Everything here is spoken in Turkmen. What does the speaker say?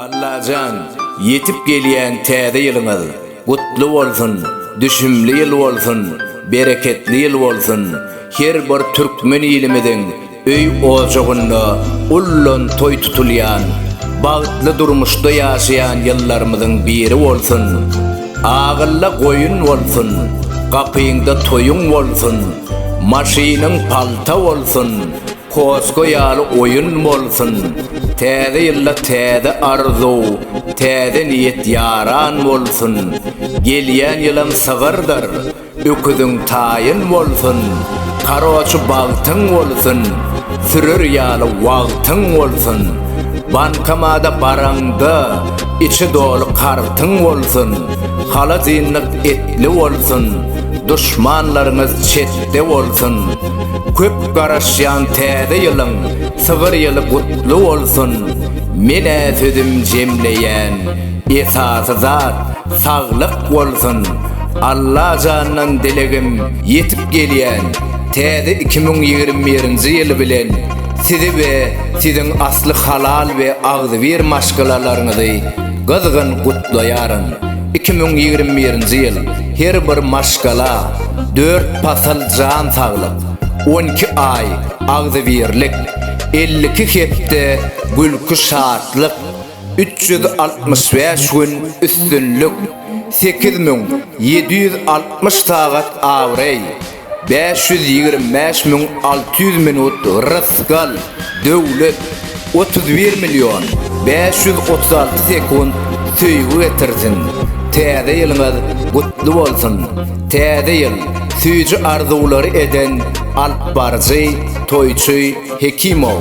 Allajan ýetip gelýän täze ýylyňyz gutly bolsun, düşümli ýyl bolsun, bereketli ýyl bolsun, her bir türkmen ilimiziň öý ojagynda ullan toý tutulýan, bagtly durmuşda ýaşaýan ýyllarymyzyň biri bolsun. Agylla goýun bolsun, gapyňda toýuň bolsun. Maşynyň palta bolsun, koska ýaly oýun bolsun, täze ýylda täze arzuw, täze niýet ýaran bolsun, gelýän ýylam sygyrdyr, öküziň taýyn bolsun, karoçy bagtyň bolsun, sürer ýaly wagtyň bolsun, bankamada baraňda içi doly kartyň bolsun, haladinlik etli bolsun, Duşmanlaryňyz çetde bolsun! Köp garaşýan täze ýylyň sygyr ýyly gutly bolsun! Menä sözüm jemleýän esasy zat saglyk bolsun! Allajandan dilegim ýetip gelýän täze iki müň ýigrimi birinji ýyl bilen sizi we siziň asly halal we agzybir maşgalalaryňyzy gyzgyn gutlaýaryn! Iki müň ýigrimi birinji ýyl her bir maşgala dört pasal jan saglyk, on iki aý agzybirlik, elli iki hepde gülki şatlyk, üç ýüz altmyş bäş gün üstünlik, sekiz müň ýedi ýüz altmyş sagat abraý, Bäş ýüz ýigrimi bäş müň alty ýüz minut rysgal, döwlet, Otuz bir million bäş ýüz otuz alty sekunt söýgi getirsin! Täze ýylyňyz gutly bolsun! Täze ýyl, süýji arzuwlary eden alypbaryjy, toýçy Hekimow.